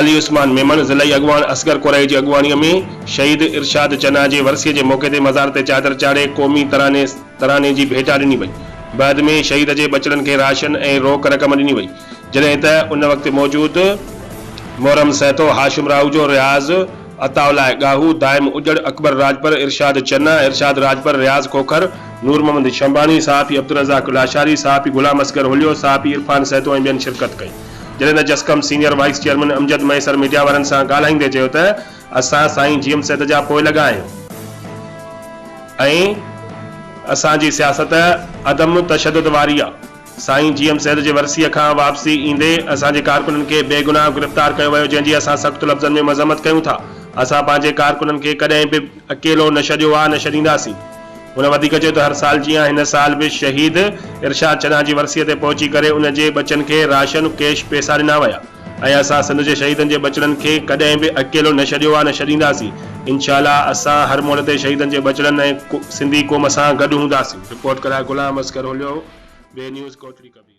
علي عثمان ميمڻ ضلعي اڳواڻ اصغر ڪورائي جي اڳواڻي ۾ شهيد ارشاد چنا جي ورسيء جي موقعي تي مزار تي چادر چاڙهي قومي تراني تراني جي ڀيٽا ڏني وئي. بعد ۾ شهيد جي ٻچڙن کي راشن ۽ روڪ رقم ڏني وئي جڏهن ته ان وقت موجود محرم سهتو، هاشم راهوجو، رياض عطاء الله ڳاهو، دائم اجڙ، اڪبر راڄپر، ارشاد چنا، ارشاد راڄپر، رياض کوکر، نور محمد شنباڻي، صحافي عبدالرزاق لاشاري، صحافي غلام اصغر هوليو، صحافي عرفان سهتو ۽ ٻين شرڪت ڪئي. جڏهن ته JSQM senior vice chairman Amjad Mahesar media وارن سان ڳالهائيندي چيو ته اسان سائين جي ايم سيد جا پوئلڳا آهيون ۽ اسان جي سياست عدم تشدد واري آ، سائين جي ايم سيد جي ورسيء کان واپسي ايندي اسان جي ڪارڪنن کي بي گناهه گرفتار ڪيو ويو جنهن جي اسان سخت لفظن ۾ مذمت ڪيون ٿا، اسان پنهنجي ڪارڪنن کي ڪڏهن به. اڪيلو نه ڇڏيو آ نه ڇڏينداسين. هن وڌيڪ چيو ته هر سال جيان هن سال به شهيد ارشاد چنا جي ورسيء تي پهچي ڪري ان جي ٻچن کي راشن ڪيش پيسا ڏنا ويا ۽ اسان سنڌ جي شهيدن جي ٻچڙن کي ڪڏهن به اڪيلو نه ڇڏيو آ نه ڇڏينداسين انشاء الله اسان هر موڙ تي شهيدن جي ٻچڙن ۽ سنڌي قوم سان گڏ هونداسين. رپورٽ ڪرائي غلام اصغر هوليو، وي نيوز، ڪوٽڙي ڪبير.